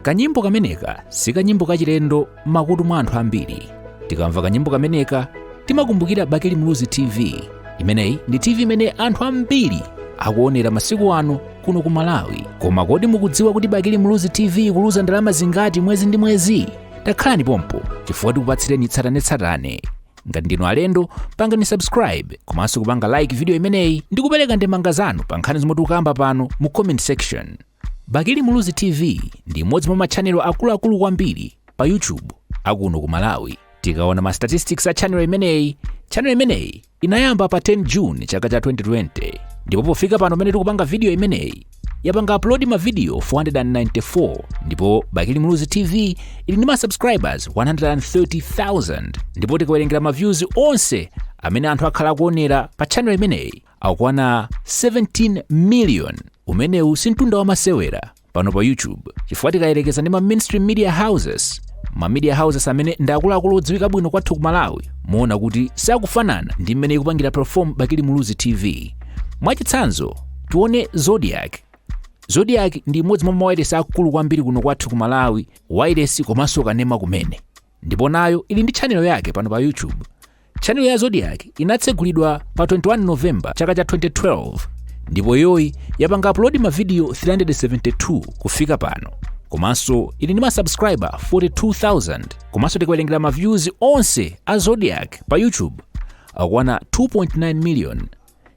kanyimbo kameneka si kanyimbo kachilendo m'makutu mwa anthu ambiri tikamva kanyimbo kameneka timakumbukira bakili muluzi tv imeneyi ndi tv imene anthu ambiri akuonera masiku ano kuno ku malawi koma kodi mukudziwa kuti bakili muluzi tv ikuluza ndalama zingati mwezi ndi mwezi takhalani pompo chifukwa tikupatsireni tsatanetsatane ngati ndinu alendo pangani subscribe komanso kupanga like video imeneyi ndi kupereka ndemanga zanu pa nkhani zomwe tikukamba pano mu comment section bakili muluzi tv ndi imodzi mwa machanelo akuluakulu kwambiri pa youtube akuno ku malawi tikaona ma statistics a channel imeneyi channel imeneyi inayamba pa 10 june chaka cha 2020 ndipo pofika pano pamene tikupanga video imeneyi yapanga upload mavidiyo 494 ndipo bakili muluzi tv ili ndi ma subscribers 130000 ndipo tikawerengera ma views onse amene anthu akhala akuonera pa channel imeneyi akukwana 17 million umenewu si mtunda wa masewera pano pa youtube chifukwa tikayerekeza ndi ma mainstream media houses ma media houses amene ndi akuluakulu odziwika bwino kwathu ku malawi muona kuti sakufanana ndi mmene ikupangira perform bakili muluzi tv Mwachitsanzo, tione Zodiak. Zodiak ndi imodzi mwa mawailesi akulu kwambiri kuno kwathu ku Malawi, wailesi komanso kanema kumene. Ndipo nayo ili ndi chanelo yake pano pa YouTube. Chanelo ya Zodiak inatsegulidwa pa 21 November chaka cha 2012 ndipo iyoyi yapanga upload mavidiyo 372 kufika pano komanso ili ndi masubscriber 42,000 komanso tikawerengera maviews onse a Zodiak pa YouTube akukwana 2.9 million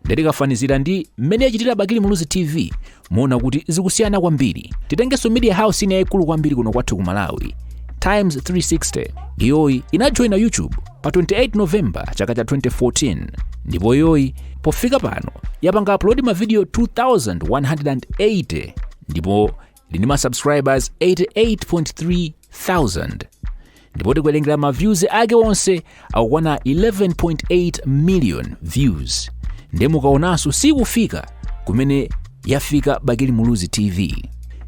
nde tikafanizira ndi mmene yachitira bakili muluzi tv muona kuti zikusiyana kwambiri titengenso media house ina yaikulu kwambiri kuno kwathu ku malawi times 360 iyoyi inajoyina youtube pa 28 novemba chaka cha 2014 ndipo iyoyi pofika pano yapanga upload mavidiyo 2180 ndipo ili ndi ma subscribers 88.3 thousand ndipo tikawerengera ma views ake onse akukwana 11.8 million views ndiye mukaonanso sikufika kumene yafika bakili muluzi tv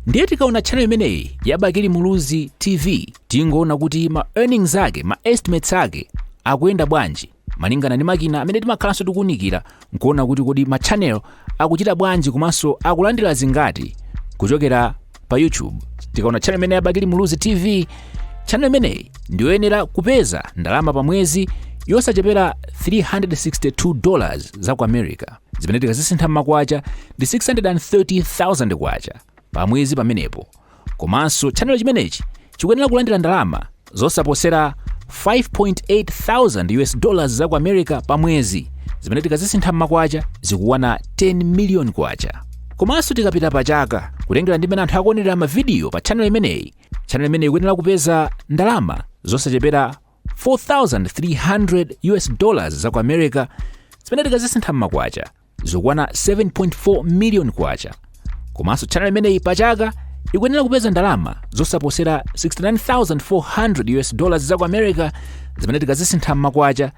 ndiye tikaona channel imeneyi ya bakili muluzi tv tingoona kuti ma earnings ake ma estimates ake akuyenda bwanji malingana ndi makina amene timakhalanso tikuunikira nkuona kuti kodi ma channel akuchita bwanji komanso akulandira zingati kuchokera pa youtube tikaona channel imeneyi ya bakili muluzi tv channel imeneyi ndiyoyenera kupeza ndalama pa mwezi yosachepera 362 dollars za ku america zimene tikazisintha m'makwacha ndi 630000 kwacha pa mwezi pamenepo komanso chanelo chimenechi chikuyenera kulandira ndalama zosaposera 5.8 thousand us dollars za ku america pa mwezi zimene tikazisintha mmakwacha zikukwana 10 miliyoni kwacha komanso tikapita pa chaka kutengera ndi mmene anthu akuonerera mavidiyo pa chanelo imeneyi chanelo imeneyi ikuyenera kupeza ndalama zosachepera 4,300 US dollars za ku America zimene tikazisintha m'makwacha zikukwana 7.4 million kwacha komanso channel imeneyi pachaka ikuyenera kupeza ndalama zosaposera 69,400 US dollars za ku America zimene tikazisintha m'makwacha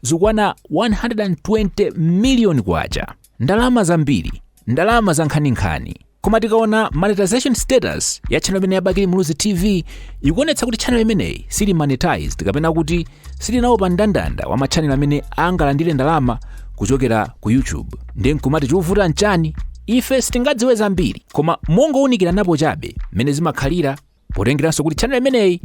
zikukwana 120 million kwacha ndalama zambiri ndalama zankhaninkhani koma tikaona monetization status ya channel imeneyi ya bakili muluzi tv ikuonetsa kuti channel imeneyi sili monetized kapena kuti sili nawo pa ndandanda wa matchannel amene angalandire ndalama kuchokera ku youtube ndiye nkumati chikuvuta nchani ife sitingadziwe zambiri koma mongowunikiranapo chabe mmene zimakhalira potengeranso kuti channel imeneyi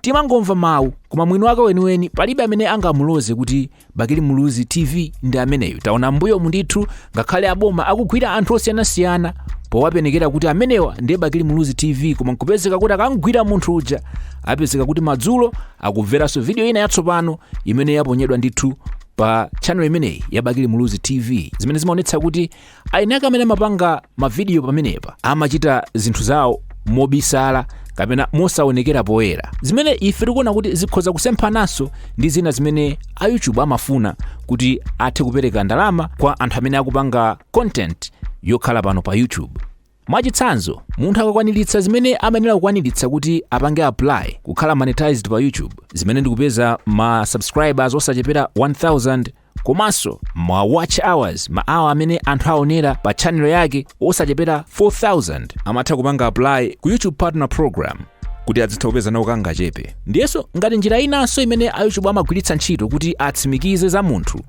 timangomva mawu koma mwini wake weniweni palibe amene angamuloze kuti bakili muluzi tv ndi ameneyu taona mbuyomu ndithu ngakhale aboma akugwira anthu osiyanasiyana powapenekera kuti amenewa ndiye bakili muluzi tv koma nkupezeka kuti akamgwira munthu uja apezeka kuti madzulo akumveranso vidiyo ina yatsopano imene yaponyedwa ndithu pa channel imeneyi ya bakili muluzi tv zimene zimaonetsa kuti eni ake amene amapanga mavidiyo pamenepa amachita zinthu zawo mobisala kapena mosaonekera poyera zimene ife tikuona kuti zikhoza kusemphananso ndi zina zimene a youtube amafuna kuti athe kupereka ndalama kwa anthu amene akupanga content yokhala pano pa youtube Mwachitsanzo, munthu akakwaniritsa zimene amayenera kukwaniritsa kuti apange apply kukhala monetized pa YouTube, zimene ndikupeza ma subscribers osachepera 1000 komanso ma watch hours, ma hour amene anthu aonera pa channel yake osachepera 4000 amatha kupanga apply ku YouTube Partner Program kuti adzitha kupeza nawo kangachepe. Ndiyenso ngati njira inanso imene a YouTube amagwiritsa ntchito kuti atsimikize za munthu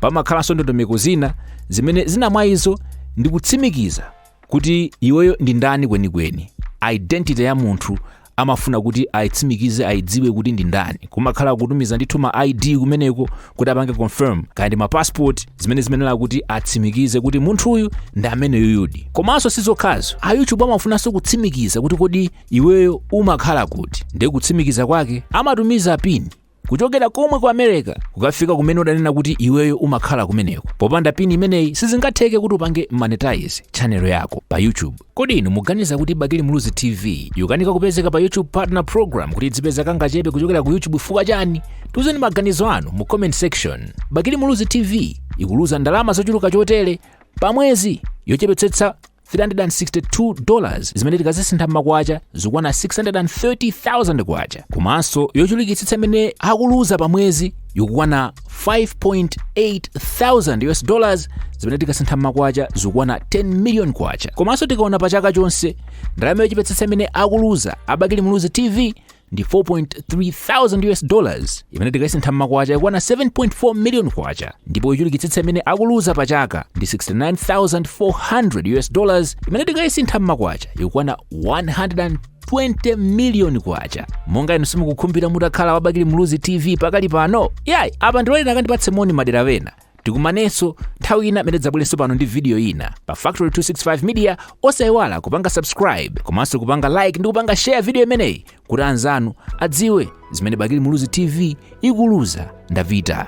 pamakhalanso ndondomeko zina zimene zina mwa izo ndi kutsimikiza kuti iweyo ndi ndani kwenikweni identity ya munthu amafuna kuti ayitsimikize ayidziwe kuti ndi ndani kumakhala kutumiza ndithu ma id kumeneko kuti apange confirm kaya ndi ma passport zimene zimayenera kuti atsimikize kuti munthuyu ndi ameneyuyudi komanso sizokhazo a youtube amafunanso kutsimikiza kuti kodi iweyo umakhala kuti ndiye kutsimikiza kwake amatumiza pini kuchokera komwe ku america kukafika kumene udanena kuti iweyo umakhala kumeneko popanda pini imeneyi sizingatheke kuti upange monetize chanelo yako pa youtube kodi inu muganiza kuti bakili muluzi tv ikukanika kupezeka pa youtube partner program kuti idzipeza kangachepe kuchokera ku youtube fukwa chani tiuzeni maganizo anu mu comment section bakili muluzi tv ikuluza ndalama zochuluka chotere pamwezi yochepetsetsa 362 dollars zimene tikazisintha m'makwacha zikwana 630,000 kwacha komanso yochulukitsitsa imene akuluza pa mwezi ikukwana 5.8 thousand us dollars zimene tikasintha m'makwacha zikwana 10 million kwacha komanso tikaona pa chaka chonse ndalama yochepetsetsa imene akuluza a bakili muluzi tv ndi 4,300 us dollars imene tikayisintha mmakwacha ikukwana 7.4 million kwacha ndipo yochulukitsitsa imene akuluza pa chaka ndi 69400 us dollars imene tikayisintha mmakwacha ikukwana 120 miliyoni kwacha monga inu simukukhumbira mutakhala wa bakili muluzi tv pakali pano yayi apa ndiloleni akandipatsa moni madera ena tikumanenso nthawi ina imene ndidzabwerenso pano ndi video ina pa factory 265 media osayiwala kupanga subscribe komanso kupanga like ndi kupanga share video imeneyi kuti anzanu adziwe zimene bakili muluzi tv ikuluza ndapita